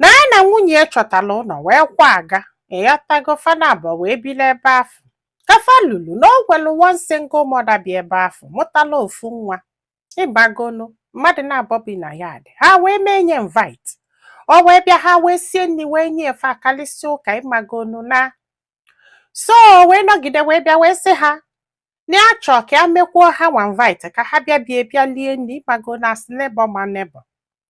na ya na nwunye ya chọtara ụlọ wee kwaga ịghọtago fa naabọ wee biri ebe afụ ka fa lulu na o nwelu one single mother bi ebe afụ mụtalụ ofu nwa ịmagonu mmadụ naabọ bi na yard ha wee mee nya invite o wee bịa ha wee sie nri wee nye e fa akalịsịa ụka ịmagonu na so o wee nọgide wee bịa wee sị ha na ya chọọ ka ya mekwuo ha nwa invite ka ha bịa bie bịa lie nri ịmagonu as neighbor ma neighbor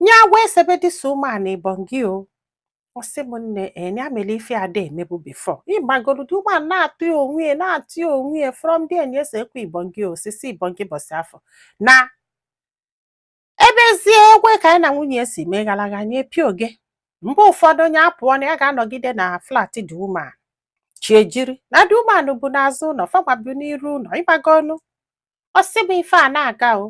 nya agwa esebe this woman ibongi o ọ sị m nne nya eh, mere ife ada emebu before ịmagonu the woman na-atụ ya onwe ya na-atụ ya onwe ya from there nya esekwe ibongi osise ibongi ụbọsị afụ na ebezie egwe ka anyị na nwunye ya si mee gara aga nye pịa oge mgbe ụfọdụ nwunye apụọ na ya ga-anọgide na flat the woman chi ejie na the woman bu n'azụ ụlọ fanwa bu n'iru ụlọ ịmagonu ọ sị m ife a na-aga o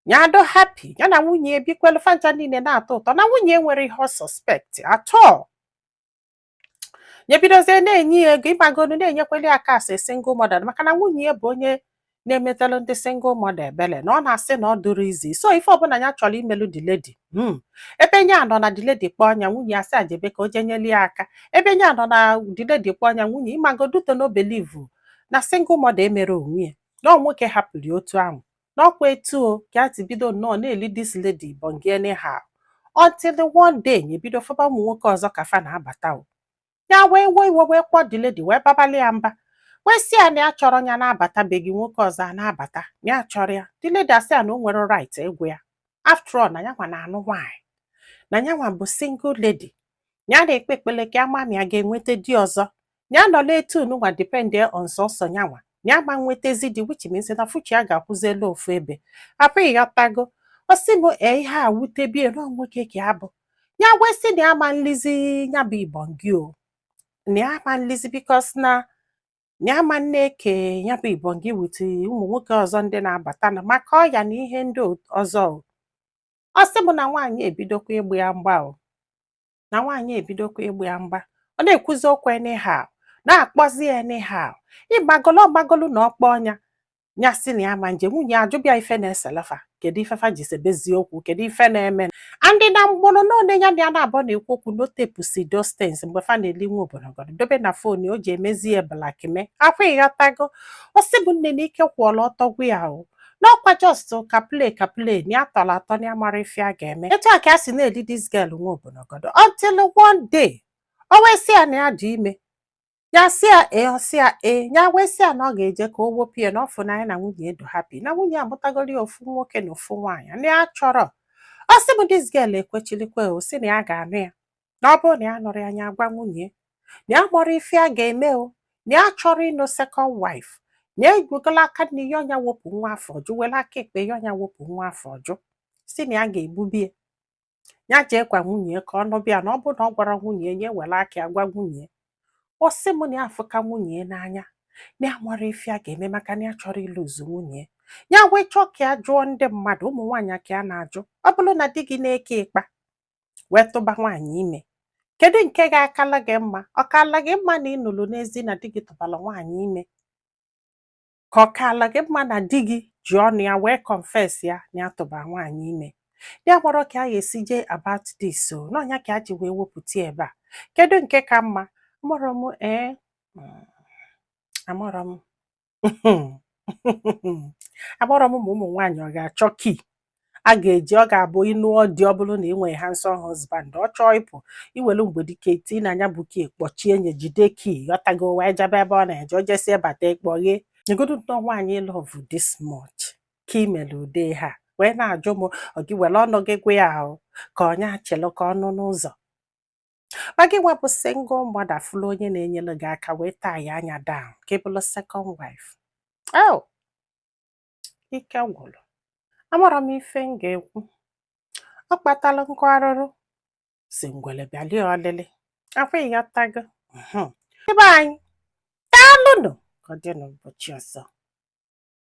nya adụ happy ya na nwunye ebikwelu fa ncha niile na-atọ ụtọ na nwunye enwerọ ihe ọ suspect at all nya ebidozie na-enye ya ego ịmagonu na-enyekweli ya aka as single mother maka na nwunye ya bụ onye na-emetelu ndị single mother ebele na ọ na-asị na ọ dụrọ easy so ife ọbụla ya chọrọ imelu the lady hmm. ebe nya anọ na the lady kpọọ nya nwunye ya sị ya jebe ka o jee nyeli ya aka ebe nya anọ na the lady kpọọ nya nwunye ịmagoduto no believe na single mother emerọ onwe ya na ọ nwoke hapụrụ ya otu ahụ na ọkwa etu o ka a ti bido nnọọ na-eli this lady ibongi anyhow until one day nya ebido fụba ụmụ nwoke ọzọ ka fa na-abata o ya wee wee iwe wee kpọọ the lady wee babalụ ya mba wee sị ya na ya achọrọ ya na-abata be gị nwoke ọzọ a na-abata na ya achọrọ ya the lady asị ya na o nwerọ right ịgwa ya after all na yanwa na-anụ nwaanyị na yanwa bụ single lady ya na-ekpe ekpele ka a ma ma ya ga-enweta di ọzọ ya nọlụ etu nwa depend on sọsọ nyanwa ya ma nwetazi di which means na future ya ga-akwụzilụ ofu ebe akwa ịghọtago ọ sị m ee ihe a wutebie na nwoke ka ya bụ ya wee sị na ya ma nlizi ya bụ ibongi o na ya ma nlizi because na na ya ma na-eke ya bụ ibongi with ụmụ nwoke ọzọ ndị na-abata na maka ọya na ihe ndị ọzọ o ọ sị m na nwaanyị ebidokwa ịgba ya mgba o na nwaanyị ebidokwa ịgba ya mgba ọ na-ekwuzi okwu anyhow na-akpọzi ya anyhow ịmagonu ọ magolu na ọ kpọọ nya ya sị na ya ma nje nwunye ajụba ya ife na-eselụ fa kedu ife fa ji sebezie okwu kedu ife na-eme and na mgbụrụ na one ya na ya naabọ na-ekwu okwu na o tepụsị those things mgbe fa na-eli onwe obodogodo dobe na phone o ji emezi ya blackmail akwa ịghọtago ọ sị mụ nne na ike kwụọlụ ọtọ gwụ ya o n'ọkwa just ka play ka play na ya tọrọ atọ na ya mara ife a ga-eme etu a ka a si na-eli this girl nwa obonogodo until one day o wee sị ya na ya dị ime ya sị ya ee ọ sị ya ee ya wee sị ya na ọ ga-eje ka o wepụ ya na ọ fụ na ya na nwunye dị happy na nwunye amụtagoro ya ofu nwoke na ofu nwaanyị na ya achọrọ ọ sị m this girl ekwechirikwa o sị na ya ga-anụ ya na ọ bụrụ na ya anụrọ ya ya agwa nwunye na ya amarọ ife a ga-eme o na ya achọrọ ịnụ second wife na ewegola aka nri yọọ nya wepụ nwa afọ ọ jụ were aka ekpe yọọ nya wepụ nwa afọ ọ jụ sị na ya ga-egbubie ya jee gwa nwunye ka ọ nụbịa na ọ bụrụ na ọ gwarọ nwunye nya were aka ya gwa nwunye ọ sị m na ya afụka nwunye n'anya na ya amarọ ife a ga-eme maka na ya achọrọ ịlose nwunye ya wee chọọ ka ya jụọ ndị mmadụ ụmụ nwaanyị ka ya na-ajụ ọ bụrụ na di gị na-eke ịkpa wee tụba nwaanyị ime kedu nke ga-akala gị mma ọ kaala gị mma na ị nụlụ n'ezi na di gị tụbara nwaanyị ime ka ọ kaala gị mma na di gị ji ọnụ ya wee confess ya na ya tụbara nwaanyị ime ya amarọ ka a ga-esi jee about this so na ọ nya ka a ji wee wepụta ebe a kedu nke ka mma amarọ m ee amarọ m amarọ m ụmụ nwaanyị ọ ga-achọ key a ga-eji ọ ga-abụ ị nụọ di ọ bụrụ na ị nwere handsome husband ọ chọọ ịpụ i welu mgbedike tinye nya bụ key kpọchie nya jide key ị ghọtago wee jebe ebe ọ na-eje o jesie bata ị kpọghee nyegodu nnọọ nwaanyị love this much ka i mere ude ha wee na-ajụ m ọ gị were ọnụ gị gwa ya ahụ ka ọ nya chelụ ka ọ nụ n'ụzọ ma gị nwa bụ single mother fụlụ onye na-enyere gị aka wee taa ya anya down ka ị bụrụ second wife oh ike gwụrụ amarọ m ife m ga-ekwu ọ kpatara nkụ arụrụ sị ngwere bịalie ọlịlị ọkwa ị ghọtago Mhm. ibe anyị daalụnụ ka ọ dị n'ụbọchị ọzọ